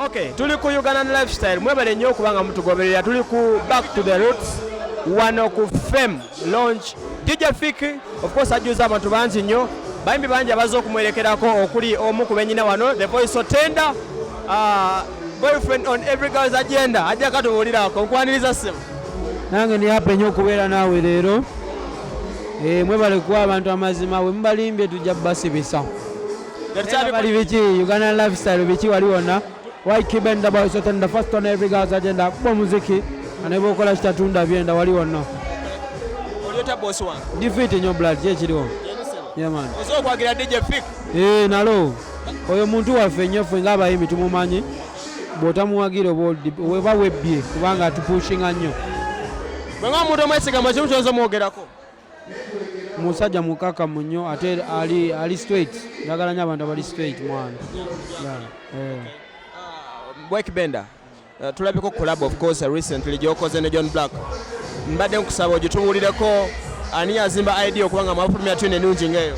Okay, tuli ku Ugandan lifestyle mwebale nnyo okuba nga mutugoberera tuli ku back to the roots wano ku fame launch DJ Fik of course ajjuza abantu bangi nnyo bayimbi bangi abazze okumwerekerako okuli omu ku benyina wano the voice so tender uh, boyfriend on every girl's agenda ajja katubuulirako nkwaniriza ssimu nange ndi hape nnyo okubeera naawe leero eh, mwebale kuwa abantu amazima bwe mubalimbye tujja basibisa bali biki uganda lifestyle biki wali wonna wikibendabasotenda first on every girls agenda kuba omuziki aneba okola kitatunda byenda wali wonna difiti nnyo blood kyekiriwo eh, nalo oyo muntu waffe nnyo ffe ngaabayimbi tumumanyi bw'otamuwagira oba weba webbye kubanga atupushinga nnyo bweba omuntu omwesigama kimu kyoza omwogerako musajja mukakamu nnyo ate ali ali straight ndagala nyo abantu abali straight mwana eh. bwekibenda eh, tulabiko kulab of course recently gyokoze ne john black mbadde nkusaba ogitubuulireko ani yazimba idea okuba nga mwafulumya tune enungi ngaeyo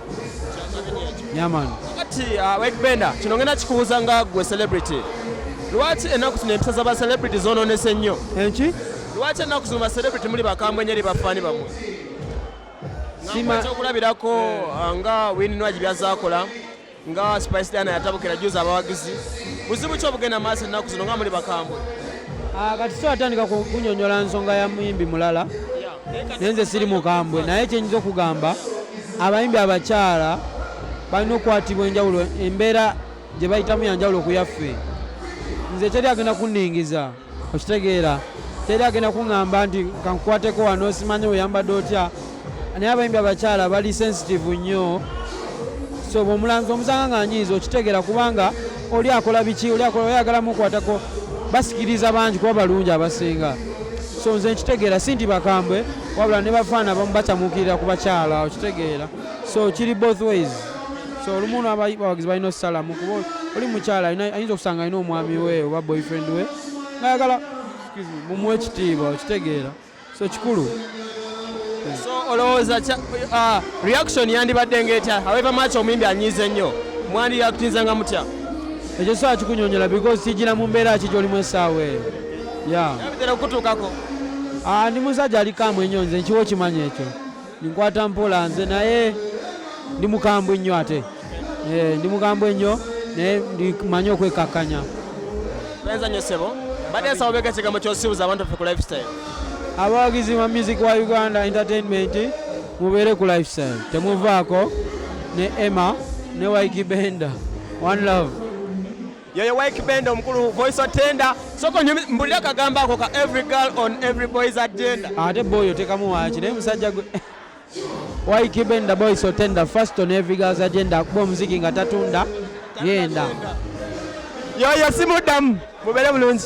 kati wegbenda uh, kino ngenda kikubuuza nga gwe celebrity lwaki ennaku zino empisa za bacelebrity zononese ennyo enki lwaki ennaku zino bacelebrity muli bakambwe nyeri bafaani bamwe ekyokulabirako eh. uh, nga wininwagi byazakola nga spice diana yatabukira juzi abawagizi buzibu ki obugenda maaso ennaku zino nga muli bakambwe ah, kati so atandika kunyonyola nsonga ya muyimbi mulala naye nze siri mukambwe naye kyenyinza okugamba abayimbi abakyala balina okukwatibwa enjawulo embeera gye bayitamu yanjawulo okuyaffe nze teri agenda kunningiza okitegeera teri agenda kuŋŋamba nti kankukwateko wano simanye weyambadde otya naye abayimbi abakyala bali sensitive nnyo so bwomulanzi omusanga nga nyiiza okitegeera kubanga oli akola biki oli akola oyagala mukwatako basikiriza bangi kuba balungi abasinga so nze nkitegeera si nti bakambwe wabula ne bafaana bamu bacamukirira ku bakyala okitegeera so kiri both ways so olumu abawagizi balina okusalamu kuba oli mukyala ayinza okusanga alina omwami we oba boyfriend we ngayagala mumuwa ekitiibwa okitegeera so kikulu so olowooza uh, reaction yandibadde ngaetya however much omuyimbi anyiize nnyo mwandi yakutinzanga mutya ekyo saa kikunyonyola because kijira mu mbeera ki gyolimu essaawa eyo ya okutuukako ah, ndi musajja alikamu enyo nze nkiwa okimanyi ekyo Ninkwata mpola nze naye ndi mukambwe nnyo ate eh, ndi mukambwe nnyo naye ndimanyi okwekakkanya. Benza nnyo ssebo. Mbadde nsaba beeka ekigambo ky'osibuza abantu ffe ku lifestyle. Abawagizi ba music wa Uganda Entertainment mubeere ku lifestyle temuvaako ne Emma ne Waiki Benda. One love. yoyo wike benda omukulu voice of tender soko mbulira kagamba ako ka every girl on every boys agenda ate boyo tekamu waki naye musajja gwe wike benda boys of tender first on every girls agenda akuba omuziki nga tatunda yenda yoyo simuddamu mubere bulungi